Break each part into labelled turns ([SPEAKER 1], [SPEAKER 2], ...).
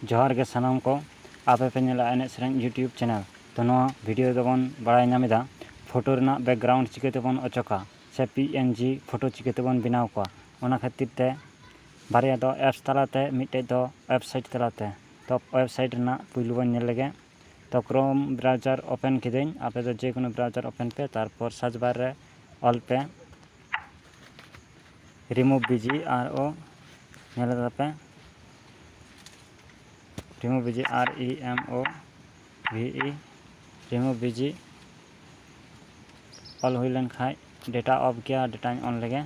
[SPEAKER 1] ᱡᱚᱦᱟᱨ ᱜᱮ ᱥᱟᱱᱟᱢ ᱠᱚ ᱟᱯᱮ ᱯᱮ ᱧᱮᱞᱟ ᱮᱱᱮᱡ ᱥᱮᱨᱮᱧ ᱭᱩᱴᱭᱩᱵᱽ ᱪᱮᱱᱮᱞ ᱛᱚ ᱱᱚᱣᱟ ᱵᱷᱤᱰᱤᱭᱳ ᱨᱮᱫᱚ ᱵᱚᱱ ᱵᱟᱲᱟᱭ ᱧᱟᱢ ᱮᱫᱟ ᱯᱷᱳᱴᱳ ᱨᱮᱱᱟᱜ ᱵᱮᱠᱜᱨᱟᱣᱩᱱᱰ ᱪᱤᱠᱟᱹ ᱛᱮᱵᱚᱱ ᱚᱪᱚᱜᱟ ᱥᱮ ᱯᱤ ᱮᱱ ᱡᱤ ᱯᱷᱳᱴᱳ ᱪᱤᱠᱟᱹ ᱛᱮᱵᱚᱱ ᱵᱮᱱᱟᱣ ᱠᱚᱣᱟ ᱚᱱᱟ ᱠᱷᱟᱹᱛᱤᱨ ᱛᱮ ᱵᱟᱨᱭᱟ ᱫᱚ ᱮᱯᱥ ᱛᱟᱞᱟ ᱛᱮ ᱢᱤᱫᱴᱮᱱ ᱫᱚ ᱳᱭᱮᱵᱽᱥᱟᱭᱤᱴ ᱛᱟᱞᱟ ᱛᱮ ᱛᱚ ᱳᱭᱮᱵᱽᱥᱟᱭᱤᱴ ᱨᱮᱱᱟᱜ ᱯᱩᱭᱞᱩ ᱵᱚᱱ ᱧᱮᱞ ᱞᱮᱜᱮ ᱛᱚ ᱠᱨᱳᱢ ᱵᱨᱟᱣᱡᱟᱨ ᱳᱯᱮᱱ ᱠᱤᱫᱟᱹᱧ ᱟᱯᱮ ᱫᱚ ᱡᱮᱠᱳᱱᱳ ᱵᱨᱟᱣᱡᱟᱨ ᱳᱯᱮᱱ ᱯᱮ ᱛᱟᱨᱯᱚᱨ ᱥᱟᱨᱪ ᱵᱟᱨ ᱨᱮ ᱚᱞ ᱯᱮ ᱨᱤᱢᱩᱵᱷ ᱵᱤᱡᱤ ᱟᱨ ᱚ ᱧᱮᱞ ᱮᱫᱟ ᱯᱮ ᱨᱤᱢᱩ ᱵᱤᱡᱤ ᱟᱨ ᱤ ᱮᱢ ᱳ ᱵᱷᱤ ᱤ ᱨᱤᱢᱩ ᱵᱤᱡᱤ ᱚᱞ ᱦᱩᱭ ᱞᱮᱱ ᱠᱷᱟᱱ ᱰᱮᱴᱟ ᱚᱯᱷ ᱜᱮᱭᱟ ᱰᱮᱴᱟᱧ ᱚᱱ ᱞᱮᱜᱮ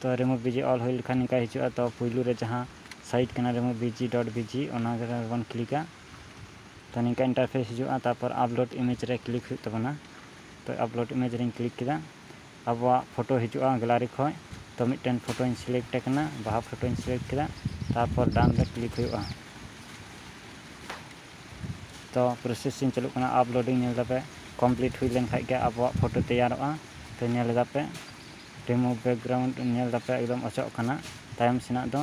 [SPEAKER 1] ᱛᱚ ᱨᱤᱢᱩ ᱵᱤᱡᱤ ᱚᱞ ᱦᱩᱭ ᱞᱮᱠᱷᱟᱱ ᱱᱤᱝᱠᱟ ᱦᱤᱡᱩᱜᱼᱟ ᱛᱚ ᱯᱩᱭᱞᱩ ᱨᱮ ᱡᱟᱦᱟᱸ ᱥᱟᱭᱤᱴ ᱠᱟᱱᱟ ᱨᱤᱢᱩ ᱵᱤᱡᱤ ᱰᱚᱴ ᱵᱤᱡᱤ ᱚᱱᱟ ᱨᱮᱵᱚᱱ ᱠᱞᱤᱠᱟ ᱛᱚ ᱱᱤᱝᱠᱟ ᱤᱱᱴᱟᱨᱯᱷᱮᱥ ᱦᱤᱡᱩᱜᱼᱟ ᱛᱟᱨᱯᱚᱨ ᱟᱯᱞᱳᱰ ᱤᱢᱮᱡᱽ ᱨᱮ ᱠᱞᱤᱠ ᱦᱩᱭᱩᱜ ᱛᱟᱵᱚᱱᱟ ᱛᱚ ᱟᱯᱞᱳᱰ ᱤᱢᱮᱡᱽ ᱨᱮᱧ ᱠᱞᱤᱠ ᱠᱮᱫᱟ ᱟᱵᱚᱣᱟᱜ ᱯᱷᱳᱴᱳ ᱦᱤᱡᱩᱜᱼᱟ ᱜᱮᱞᱟᱨᱤ ᱠᱷᱚᱱ ᱛᱚ ᱢᱤᱫᱴᱮᱱ ᱯᱷᱳᱴᱳᱧ ᱥᱤᱞᱮᱠᱴ ᱮ ᱠᱟᱱᱟ ᱵᱟᱦᱟ ᱯᱷᱳᱴᱳᱧ ᱥᱤᱞᱮᱠᱴ ᱠᱮᱫᱟ ᱛᱟᱨᱯᱚᱨ ᱰᱟᱱ ᱨᱮ ᱠᱞᱤᱠ ᱦᱩᱭᱩᱜᱼᱟ ᱛᱚ ᱯᱨᱚᱥᱮᱥᱤᱝ ᱪᱟᱹᱞᱩᱜ ᱠᱟᱱᱟ ᱟᱯᱞᱳᱰᱤᱝ ᱧᱮᱞ ᱫᱟᱯᱮ ᱠᱚᱢᱯᱞᱤᱴ ᱦᱩᱭ ᱞᱮᱱᱠᱷᱟᱱ ᱜᱮ ᱟᱵᱚᱣᱟᱜ ᱯᱷᱳᱴᱳ ᱛᱮᱭᱟᱨᱚᱜᱼᱟ ᱛᱚ ᱧᱮᱞ ᱮᱫᱟᱯᱮ ᱨᱤᱢᱩᱵᱷ ᱵᱮᱠᱜᱨᱟᱣᱩᱱᱰ ᱧᱮᱞ ᱮᱫᱟᱯᱮ ᱮᱠᱫᱚᱢ ᱚᱪᱚᱜ ᱠᱟᱱᱟ ᱛᱟᱭᱚᱢ ᱥᱮᱱᱟᱜ ᱫᱚ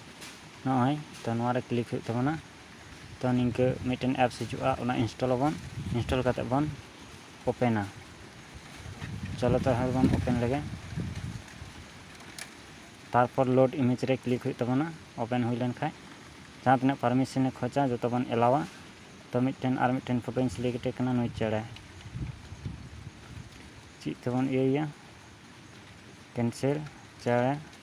[SPEAKER 1] ᱱᱚᱜᱼᱚᱭ ᱛᱚ ᱱᱚᱣᱟ ᱨᱮ ᱠᱞᱤᱠ ᱦᱩᱭᱩᱜ ᱛᱟᱵᱚᱱᱟ ᱛᱚ ᱱᱤᱝᱠᱟᱹ ᱢᱤᱫᱴᱮᱱ ᱮᱯᱥ ᱦᱤᱡᱩᱜᱼᱟ ᱚᱱᱟ ᱤᱱᱥᱴᱚᱞ ᱟᱵᱚᱱ ᱤᱱᱥᱴᱚᱞ ᱠᱟᱛᱮᱫ ᱵᱚᱱ ᱳᱯᱮᱱᱟ ᱪᱚᱞᱚ ᱛᱟᱦᱚᱞᱮ ᱵᱚᱱ ᱳᱯᱮᱱ ᱞᱮᱜᱮ ᱛᱟᱨᱯᱚᱨ ᱞᱳᱰ ᱤᱢᱮᱡᱽ ᱨᱮ ᱠᱞᱤᱠ ᱦᱩᱭᱩᱜ ᱛᱟᱵᱚᱱᱟ ᱳᱯᱮᱱ ᱦᱩᱭ ᱞᱮᱱ ᱠᱷᱟᱱ ᱡᱟᱦᱟᱸ ᱛᱤᱱᱟᱹᱜ ᱯᱟᱨᱢᱤᱥᱚᱱᱮ ᱠᱷᱚᱡᱟ ᱡᱚᱛᱚ ᱵᱚᱱ ᱮᱞᱟᱣᱟ ᱛᱚ ᱢᱤᱫᱴᱮᱱ ᱟᱨ ᱢᱤᱫᱴᱮᱱ ᱯᱷᱳᱴᱳᱧ ᱥᱤᱞᱮᱠᱴ ᱮ ᱠᱟᱱᱟ ᱱᱩᱭ ᱪᱮᱬᱮ ᱪᱮᱫ ᱛᱮᱵᱚᱱ ᱤᱭᱟᱹᱭᱟ ᱠᱮᱱᱥᱮᱞ ᱪᱮᱬᱮ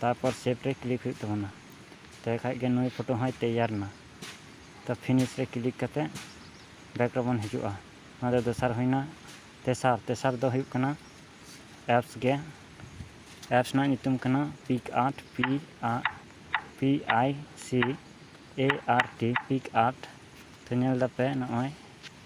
[SPEAKER 1] ᱛᱟᱨᱯᱚᱨ ᱥᱮᱯ ᱨᱮ ᱠᱞᱤᱠ ᱦᱩᱭᱩᱜ ᱛᱟᱵᱚᱱᱟ ᱛᱚᱵᱮ ᱠᱷᱟᱱ ᱜᱮ ᱱᱩᱭ ᱯᱷᱳᱴᱳ ᱦᱚᱸᱭ ᱛᱮᱭᱟᱨ ᱮᱱᱟ ᱛᱚ ᱯᱷᱤᱱᱤᱥ ᱨᱮ ᱠᱞᱤᱠ ᱠᱟᱛᱮᱫ ᱵᱮᱠ ᱨᱮᱵᱚᱱ ᱦᱤᱡᱩᱜᱼᱟ ᱱᱚᱣᱟ ᱫᱚ ᱫᱚᱥᱟᱨ ᱦᱩᱭᱮᱱᱟ ᱛᱮᱥᱟᱨ ᱛᱮᱥᱟᱨ ᱫᱚ ᱦᱩᱭᱩᱜ ᱠᱟᱱᱟ ᱮᱯᱥ ᱜᱮ ᱮᱯᱥ ᱨᱮᱱᱟᱜ ᱧᱩᱛᱩᱢ ᱠᱟᱱᱟ pic art P R P I C A R T pic art ᱛᱚ ᱧᱮᱞ ᱮᱫᱟᱯᱮ ᱱᱚᱜᱼᱚᱭ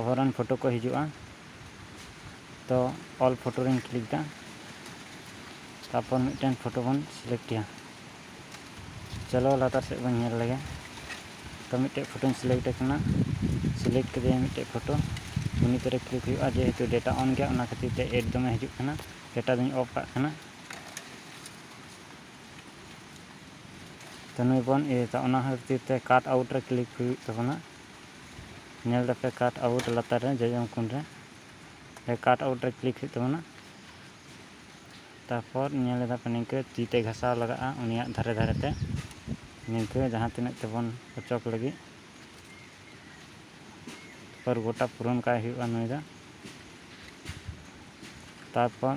[SPEAKER 1] ᱚᱵᱷᱟᱨᱚᱱ ᱯᱷᱳᱴᱳ ᱠᱚ ᱦᱤᱡᱩᱜᱼᱟ ᱛᱚ ᱚᱞ ᱯᱷᱳᱴᱳ ᱨᱮᱧ ᱠᱞᱤᱠ ᱮᱫᱟ ᱛᱟᱨᱯᱚᱨ ᱢᱤᱫᱴᱮᱱ ᱯᱷᱳᱴᱳ ᱵᱚᱱ ᱥᱤᱞᱮᱠᱴᱮᱜᱼᱟ ᱪᱚᱞᱚ ᱞᱟᱛᱟᱨ ᱥᱮᱫ ᱵᱚᱱ ᱧᱮᱞ ᱞᱮᱜᱮ ᱛᱚ ᱢᱤᱫᱴᱮᱡ ᱯᱷᱳᱴᱳᱧ ᱥᱤᱞᱮᱠᱴ ᱠᱟᱱᱟ ᱥᱤᱞᱮᱠᱴ ᱠᱮᱫᱟᱹᱧ ᱢᱤᱫᱴᱮᱡ ᱯᱷᱳᱴᱳ ᱩᱱᱤ ᱛᱮᱨᱮ ᱠᱞᱤᱠ ᱦᱩᱭᱩᱜᱼᱟ ᱡᱮᱦᱮᱛᱩ ᱰᱮᱴᱟ ᱚᱱ ᱜᱮᱭᱟ ᱚᱱᱟ ᱠᱷᱟᱹᱛᱤᱨ ᱛᱮ ᱮᱰ ᱫᱚᱢᱮ ᱦᱤᱡᱩᱜ ᱠᱟᱱᱟ ᱰᱮᱴᱟ ᱫᱚᱧ ᱚᱯᱷ ᱠᱟᱜ ᱠᱟᱱᱟ ᱛᱚ ᱱᱩᱭ ᱵᱚᱱ ᱤᱭᱟᱹᱭᱮᱫᱟ ᱚᱱᱟ ᱠᱷᱟᱹᱛᱤᱨ ᱛᱮ ᱠᱟᱴ ᱟᱣᱩᱴ ᱨᱮ ᱠᱞᱤᱠ ᱦᱩᱭᱩᱜ ᱛᱟᱵᱚᱱᱟ ᱧᱮᱞ ᱫᱟᱯᱮ ᱠᱟᱴ ᱟᱣᱩᱴ ᱞᱟᱛᱟᱨ ᱨᱮ ᱡᱚᱡᱚᱢ ᱠᱩᱱ ᱨᱮ ᱠᱟᱴ ᱟᱣᱩᱴ ᱨᱮ ᱠᱞᱤᱠ ᱦᱩᱭᱩᱜ ᱛᱟᱵᱚᱱᱟ ᱛᱟᱨᱯᱚᱨ ᱧᱮᱞ ᱮᱫᱟ ᱯᱮ ᱱᱤᱝᱠᱟᱹ ᱛᱤ ᱛᱮ ᱜᱷᱟᱥᱟᱣ ᱞᱟᱜᱟᱜᱼᱟ ᱩᱱᱤᱭᱟᱜ ᱫᱷᱟᱨᱮ ᱫᱷᱟᱨᱮ ᱛᱮ ᱱᱤᱝᱠᱟᱹ ᱡᱟᱦᱟᱸ ᱛᱤᱱᱟᱹᱜ ᱛᱮᱵᱚᱱ ᱚᱪᱚᱜ ᱞᱟᱹᱜᱤᱫ ᱛᱟᱨᱯᱚᱨ ᱜᱚᱴᱟ ᱯᱩᱨᱚᱱ ᱠᱟᱭ ᱦᱩᱭᱩᱜᱼᱟ ᱱᱩᱭ ᱫᱚ ᱛᱟᱨᱯᱚᱨ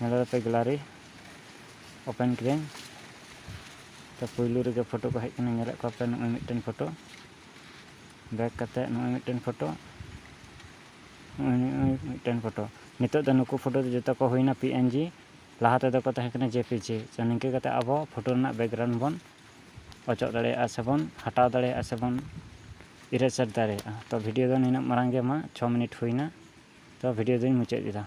[SPEAKER 1] ᱱᱚᱰᱮ ᱫᱚ ᱜᱮᱞᱟᱨᱤ ᱳᱯᱮᱱ ᱠᱮᱫᱟᱹᱧ ᱛᱚ ᱯᱩᱭᱞᱩ ᱨᱮᱜᱮ ᱯᱷᱳᱴᱳ ᱠᱚ ᱦᱮᱡ ᱠᱟᱱᱟ ᱧᱮᱞᱮᱫ ᱠᱚᱣᱟ ᱯᱮ ᱱᱚᱜᱼᱚᱭ ᱢᱤᱫᱴᱮᱱ ᱯᱷᱳᱴᱳ ᱵᱮᱠ ᱠᱟᱛᱮ ᱱᱚᱜᱼᱚᱭ ᱢᱤᱫᱴᱮᱱ ᱯᱷᱳᱴᱳ ᱱᱚᱜᱼᱚᱭ ᱱᱚᱜᱼᱚᱭ ᱢᱤᱫᱴᱮᱱ ᱯᱷᱳᱴᱳ ᱱᱤᱛᱚᱜ ᱫᱚ ᱱᱩᱠᱩ ᱯᱷᱳᱴᱳ ᱫᱚ ᱡᱚᱛᱚ ᱠᱚ ᱦᱩᱭᱱᱟ ᱯᱤ ᱮᱱ ᱡᱤ ᱞᱟᱦᱟ ᱛᱮᱫᱚ ᱠᱚ ᱛᱟᱦᱮᱸ ᱠᱟᱱᱟ ᱡᱮ ᱯᱤ ᱡᱤ ᱛᱚ ᱱᱤᱝᱠᱟᱹ ᱠᱟᱛᱮ ᱟᱵᱚ ᱯᱷᱳᱴᱳ ᱨᱮᱱᱟᱜ ᱵᱮᱠᱜᱨᱟᱣᱩᱱᱰ ᱵᱚᱱ ᱚᱪᱚᱜ ᱫᱟᱲᱮᱭᱟᱜᱼᱟ ᱥᱮ ᱵᱚᱱ ᱦᱟᱴᱟᱣ ᱫᱟᱲᱮᱭᱟᱜᱼᱟ ᱥᱮ ᱵᱚᱱ ᱤᱨᱮᱡᱟᱨ ᱫᱟᱲᱮᱭᱟᱜᱼᱟ ᱛᱚ ᱵᱷᱤᱰᱤᱭᱳ ᱫᱚ ᱱᱤᱱᱟᱹᱜ ᱢᱟᱨᱟᱝ ᱜᱮ ᱢᱟ ᱪᱷᱚ ᱢᱤᱱᱤᱴ ᱦᱩᱭᱱᱟ ᱛᱚ ᱵᱷᱤᱰᱤᱭᱳ ᱫᱚᱧ ᱢᱩᱪᱟᱹᱫ ᱮᱫᱟ